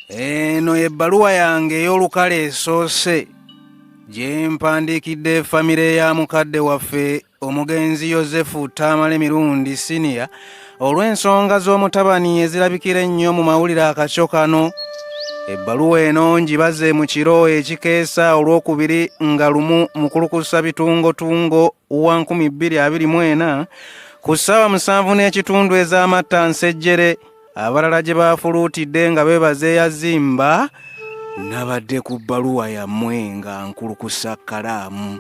eno ebbaluwa yange ey'olukale esoose gye mpandiikidde famire ya mukadde waffe omugenzi yosefu taamale mirundi siniya olw'ensonga z'omutabani ezirabikira ennyo mu mawulire akakyo kano ebbaluwa eno ngibaze mu kiro ekikeesa olw'okubiri nga lumu mukulukusa bitungotungo wa 224 ku ssaawa musanvu n'ekitundu ez'amatta nsejjere abalala gye baafuluutidde nga beebaza eyazimba nabadde ku bbaluwa yammwe nga nkulukusa kkalaamu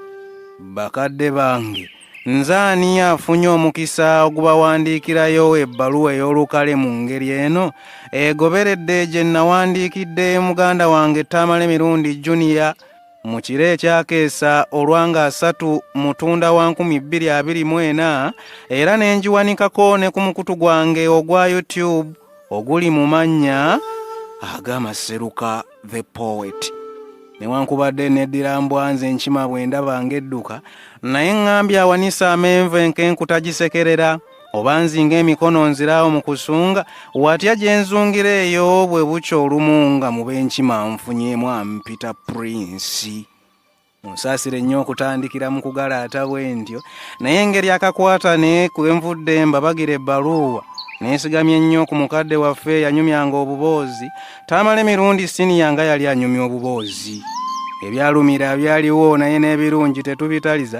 bakadde bange nze ani afunye omukisa ogubawandiikirayo ebbaluwa ey'olukale mu ngeri eno egoberedde gye nnawandiikidde muganda wange taamala emirundi juniya mu kiro ekyakeesa olwanga asatu mutunda wa nkumi bbiri abiri mu ena era ne ngiwanikako ne ku mukutu gwange ogwa youtube oguli mu mannya agamaseruka the poet newankubadde neddira mbwanze nkima bwe ndaba ng'edduka naye ŋŋambye awanise amenvu enkenku tagisekerera oba nzinga emikono nziraawo mu kusunga watya gye nzungira eyo bwe bukya olumu nga mu b'enkima nfunyemu ampita purinsi musaasire nnyo okutandikira mu kugalaata bwe ntyo naye engeri akakwata ne kwe nvudde mbabagira ebbaluuwa neesigamye ennyo ku mukadde waffe yanyumyanga obuboozi taamala emirundi siniya nga yali anyumya obuboozi ebyalumira byaliwo naye n'ebirungi tetubitaliza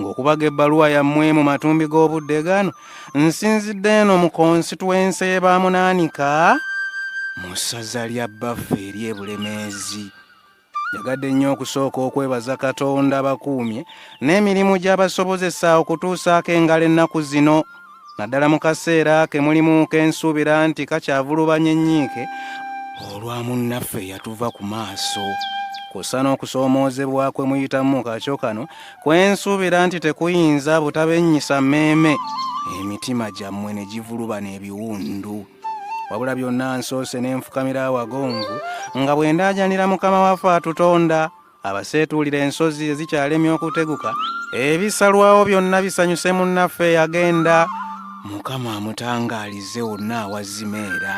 ng'okubaga ebbaluwa yammwe mu matumbi g'obudde gano nsinzidde eno mu konsituwensi ebamunaanika mu ssaza lya bbaffe eri ebulemeezi yagadde nnyo okusooka okwebaza katonda bakuumye n'emirimu gyabasobozesa okutuusaako engalo ennaku zino naddala mu kaseera ke mulimu kensuubira nti kakyavulubanya ennyiike olwa munnaffe yatuva ku maaso kussa n'okusoomoozebwa kwe muyitamu mu kakyo kano kwensuubira nti tekuyinza butabennyisa mmeeme emitima gyammwe ne givulubana ebiwundu wabula byonna nsoose ne nfukamira awagonvu nga bwe ndaajanira mukama waffe atutonda abaseetuulira ensozi ezikyalemye okuteguka ebisalwawo byonna bisanyuse munnaffe yagenda mukama amutangaalize wonna awazimeera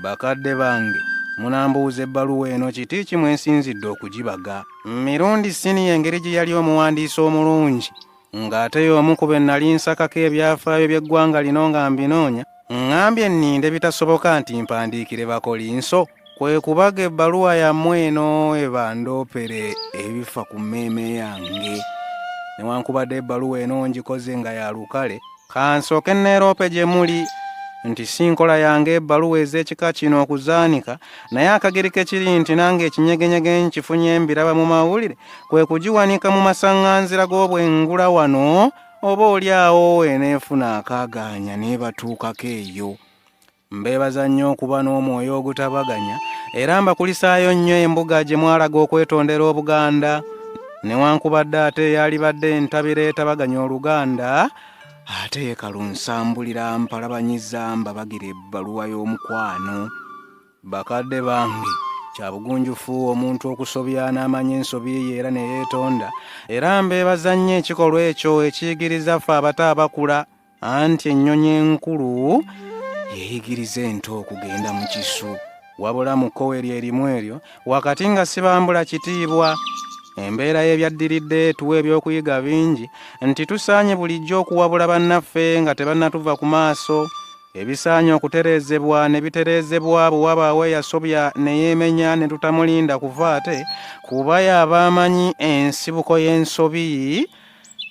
bakadde bange munambuuza ebbaluwa eno kiti kimwensinzidde okugibaga mirundi siniya engeri gye yali omuwandiisi omulungi ng'ate y'omu ku be nnali nsakako ebyafaayo by'eggwanga lino nga mbinoonya ŋŋambye nninde bitasoboka nti mpandiikire bakolinso kwe kubaga ebbaluwa yammwe eno ebandoopere ebifa ku mmeeme yange newankubadde ebbaluwa eno ngikoze nga ya lukale kansooke neeroope gye muli nti si nkola yange ebbaluwa ez'ekika kino okuzaanika naye akagerike kiri nti nange ekinyegenyege nkifunye mbiraba mu mawulire kwe kugiwanika mu masaŋŋanzira g'obwengula wano oba oli awo eneefuna akaagaanya neebatuukako eyo Mbeebaza nnyo okuba n'omwoyo ogutabaganya era mbakulisaayo nnyo embuga gye mwalaga okwetondera Obuganda newankubadde ate eyalibadde entabiro etabaganya Oluganda ate ye kalunsambulira mpalabanyiza mbabagira ebbaluwa y'omukwano bakadde bange kya bugunjufu omuntu okusobya n'amanya ensobi ye era ne yeetonda era mbeebaza nnyo ekikolwa ekyo ekiyigiriza ffe abato abakula anti ennyonyi enkulu yeyigiriza ento okugenda mu kisu wabula mu kkowe lye erimu eryo wakati nga sibambula kitiibwa embeera y'ebyaddiridde etuwa ebyokuyiga bingi nti tusaanye bulijjo okuwabula bannaffe nga tebannatuva ku maaso ebisaanye okutereezebwa ne bitereezebwa bwe wabaawo eyasobya ne yeemenya ne tutamulinda kuva ate kuba y'abaamanyi ensibuko y'ensobi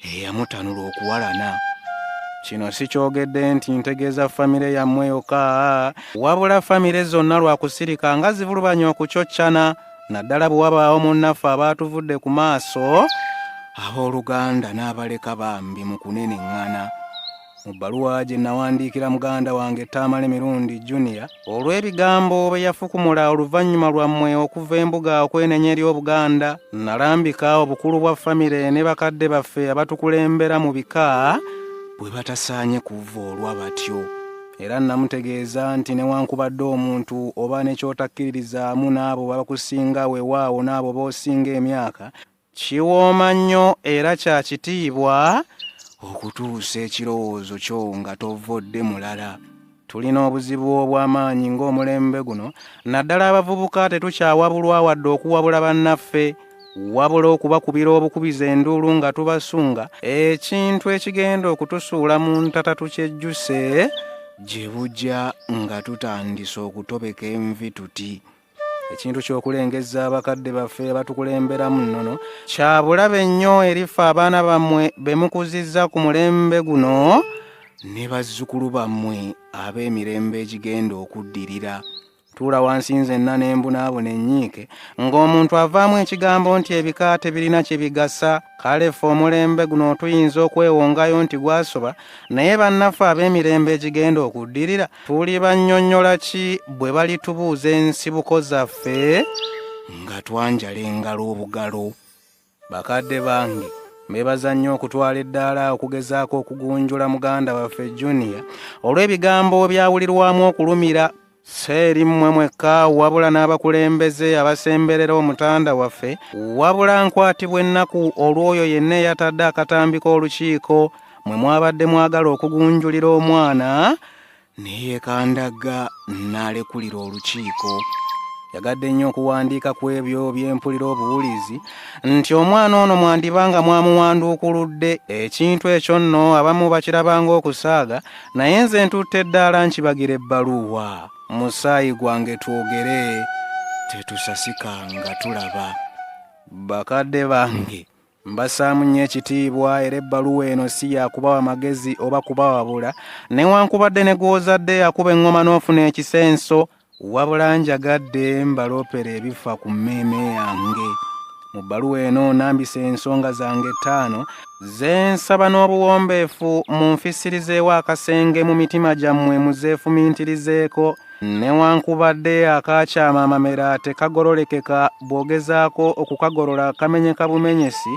eyamutanula okuwalana kino sikyogedde nti ntegeeza famire yammwe yokka wabula famire zonna lwakusirika nga zivulubanya okucoccana naddala bwe wabaawo munnaffe abaatuvudde ku maaso abooluganda n'abaleka bambi mu kuneneŋŋana mu bbaluwa gye nawandiikira muganda wange taamale mirundi junior olw'ebigambo bye yafukumula oluvannyuma lwammwe okuva embuga okwenenya eri obuganda nalambika obukulu bwa famire ne bakadde baffe abatukulembera mu bika bwe batasaanye kuva olwa batyo era namutegeeza nti newankubadde omuntu oba ne kyotakkiririzaamu n'abo babakusinga wewaawo n'abo b'osinga emyaka Kiwooma nnyo era kya kitiibwa okutuusa ekirowoozo kyo nga tovvodde mulala. Tulina obuzibu obw'amaanyi ng'omulembe guno, naddala abavubuka tetukyawabulwa wadde okuwabula bannaffe, wabula okubakubira obukubiza enduulu nga tubasunga, ekintu ekigenda okutusuula mu ntata tukyejjuse gye bujja nga tutandise okutobeka envi tuti. ekintu ky'okulengezza abakadde baffe abatukulemberamu nnono kya bulabe nnyo erifa abaana bammwe be mukuzizza ku mulembe guno ne bazzukulu bammwe ab'emirembe egigenda okuddirira tuula wansi nzenna ne mbunaabona ennyiike ng'omuntu avaamu ekigambo nti ebika tebirina kye bigasa kale ffe omulembe guno tuyinza okwewongayo nti gwasoba naye bannaffe ab'emirembe egigenda okuddirira tuli bannyonnyola ki bwe balitubuuza ensibuko zaffe nga twanjala engalo obugalo bakadde bange bebaza nnyo okutwala eddaala okugezaako okugunjula muganda waffe juniya olw'ebigambo byawulirwamu okulumira seeri mmwe mwekka wabula n'abakulembeze abasemberera omutanda waffe wabula nkwatibwa ennaku olw'oyo yenna eyatadde akatambi k'olukiiko mwe mwabadde mwagala okugunjulira omwana neyeekandagga n'alekulira olukiiko yagadde nnyo okuwandiika ku ebyo byempulira obuwulizi nti omwana ono mwandiba nga mwamuwanduukuludde ekintu ekyo nno abamu bakirabanga okusaaga naye nze ntutte eddaala nkibagira ebbaluuwa musaayi gwange twogere tetusasika nga tulaba bakadde bange mbasaamu nnyo ekitiibwa era ebbaluwa eno si yakubawa magezi oba kubawabula newankubadde ne gw'ozadde yakuba eŋŋoma n'ofuna ekisenso wabula njagadde mbaloopera ebifa ku mmeeme yange mu bbaluwa eno nambisa ensonga zange ettaano zensaba n'obuwombeefu mu nfisirizeewo akasenge mu mitima gyammwe muzeefumintirizeeko newankubadde akaakyama amamera tekagololekeka bw'ogezaako okukagolola kamenyeka bumenyesi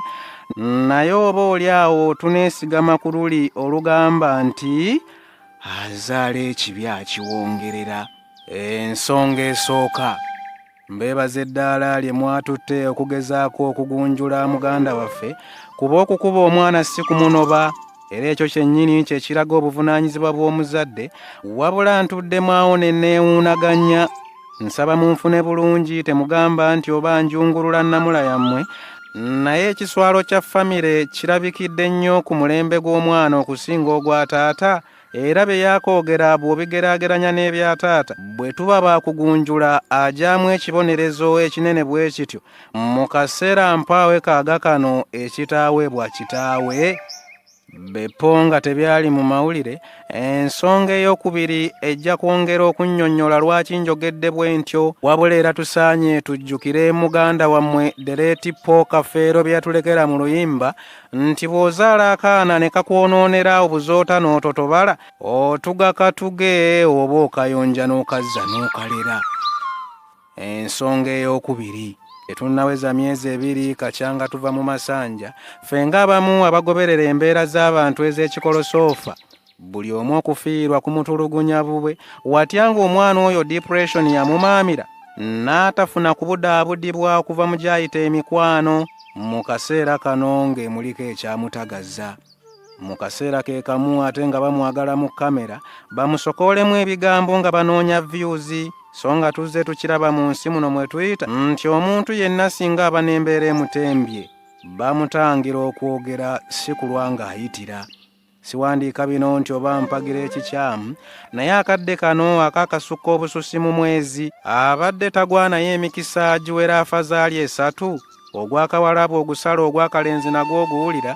naye oba oli awo tuneesigama ku luli olugamba nti azaala ekibi akiwongerera ensonga esooka mbeebaza eddaala lye mwatutte okugezaako okugunjula muganda waffe kuba okukuba omwana si kumunoba era ekyo kyennyini kye kiraga obuvunaanyizibwa bw'omuzadde wabula ntuddemu awo ne neewuunaganya nsaba munfune bulungi temugamba nti oba njungulula nnamula yammwe naye ekiswalo kya famire kirabikidde nnyo ku mulembe gw'omwana okusinga ogwa taata era bye yakoogera bw'obigeraageranya n'ebya taata bwe tuba baakugunjula agyamu ekibonerezo ekinene bwe kityo mu kaseera mpaawe kaaga kano ekitaaweebwa kitaawe bepo nga tebyali mu mawulire ensonga eyokubiri ejja kwongera okunnyonnyola lwaki njogedde bwe ntyo wabula era tusaanye tujjukire muganda wammwe dereeti po kafeero bye yatulekera mu luyimba nti bw'ozaala akaana ne kakwonoonera obuzoota n'ototobala otugakatuge oba okayonja n'okazza n'okalera ensonga ey'okubiri tetunnaweza myezi ebiri kakyanga tuva mu masanja ffe ng'abamu abagoberera embeera z'abantu ez'ekikolosoofa buli omu okufiirwa ku mutulugunya bubwe watya ng'omwana oyo depression yamumaamira n'atafuna kubudaabudibwa okuva mu gyayita emikwano mu kaseera kano ng'emuliko ekyamutagaza mu kaseera ke kamu ate nga bamwagala mu kamera bamusokoolemu ebigambo nga banoonya vyuzi so nga tuzze tukiraba mu nsi muno mwe tuyita nti omuntu yenna singa aba n'embeera emutembye bamutangira okwogera si kulwa ng'ayitira siwandiika bino nti oba mpagira ekikyamu naye akadde kano akakasukka obususi mu mwezi abadde tagwanayo emikisa giwera afazaali esatu ogwakawalabu ogusala ogwakalenzi nagwo oguwulira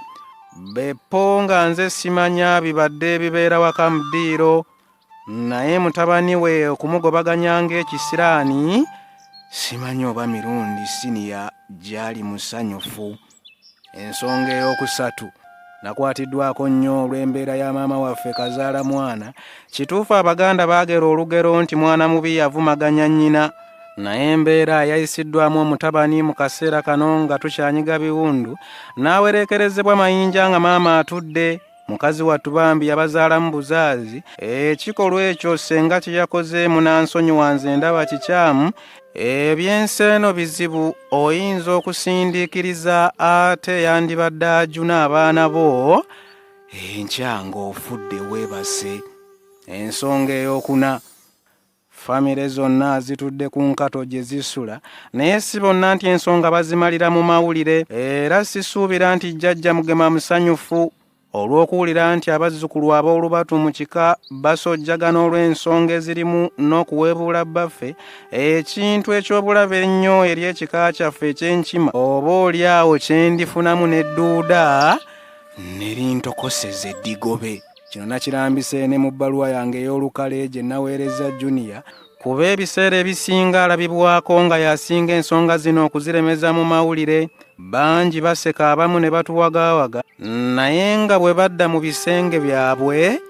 bepo nga nze simanya bibadde ebibeera waka mu ddiiro naye mutabani we okumugobaganya ng'ekisiraani simanya oba mirundi siniya gyali musanyufu ensonga ey'okusatu nakwatiddwako nnyo olw'embeera ya maama waffe kazaala mwana kituufu abaganda baagera olugero nti mwana mubi yavumaganya nnyina naye embeera yayisiddwamu omutabani mu kaseera kano nga tukyanyiga biwundu n'awereekerezebwa mayinja nga maama atudde mukazi wattu bambi yabazaalamu buzaazi ekikolwa ekyo ssenga kye yakoze munansonyiwa nze ndaba kikyamu eby'enseeno bizibu oyinza okusindiikiriza ate yandibadde ajuna abaana bo enkya ng'ofudde weebase ensonga ey'okuna famire zonna zitudde ku nkato gye zisula naye si bonna nti ensonga bazimalira mu mawulire era sisuubira nti jjajja mugema musanyufu olw'okuwulira nti abazzukulu ab'olubatu mu kika basojjagana olw'ensonga ezirimu n'okuweebuula bbaffe ekintu eky'obulabe ennyo eri ekika kyaffe eky'enkima oba oli awo kye ndifunamu n'edduuda ne lintokoseza eddigobe kino nakirambise ne mu bbaluwa yange ey'olukale gye naweereza juniya kuba ebiseera ebisinga alabibwako nga yasinga ensonga zino okuziremeza mu mawulire bangi baseka abamu ne batuwagaawaga naye nga bwe badda mu bisenge byabwe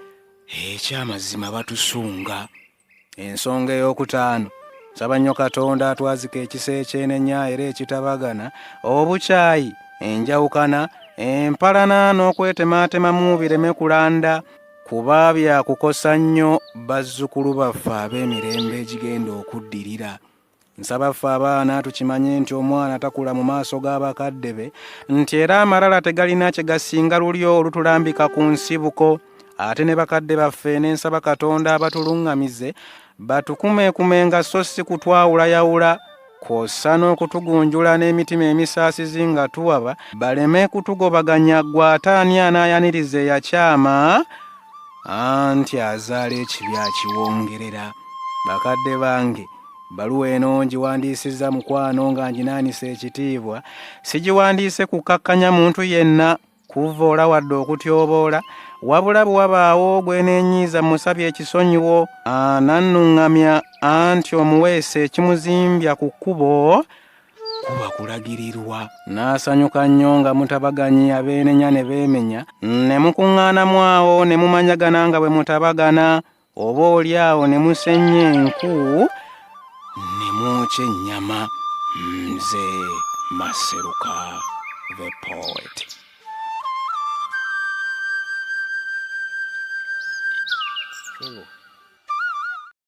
ekyamazima batusunga ensonga ey'okutaano nsaba nnyo katonda atwazika ekisa ekyenenya era ekitabagana obukyayi enjawukana empalana n'okwetemaatemamu bireme kulanda kuba byakukosa nnyo bazzukulu baffe ab'emirembe egigenda okuddirira nsaba ffe abaana tukimanye nti omwana takula mu maaso g'abakadde be nti era amalala tegalina kye gasinga luli olutulambika ku nsibuko ate ne bakadde baffe n'ensaba katonda abatuluŋŋamize batukumekumenga so si kutwawulayawula kwossa n'okutugunjula n'emitima emisaasizi nga tuwaba baleme kutugobaganya gwe ate ani anaayaniriza eyakyama anti azaala ekibi akiwongerera bakadde bange baluwa eno ngiwandiisizza mukwano nga nginaanisa ekitiibwa sigiwandiise kukkakkanya muntu yenna kuvvoola wadde okutyoboola wabula bwe wabaawo gweneenyiiza musabye ekisonyiwo anannuŋŋamya anti omuweesa ekimuzimbya ku kkubo kuba kulagirirwa n'asanyuka nnyo nga mutabaganyi abeenenya ne beemenya ne mukuŋŋaanamu awo ne mumanyagana nga bwe mutabagana oba oli awo ne musenya enku ne mwokya ennyama nze maseruka the poet Hello.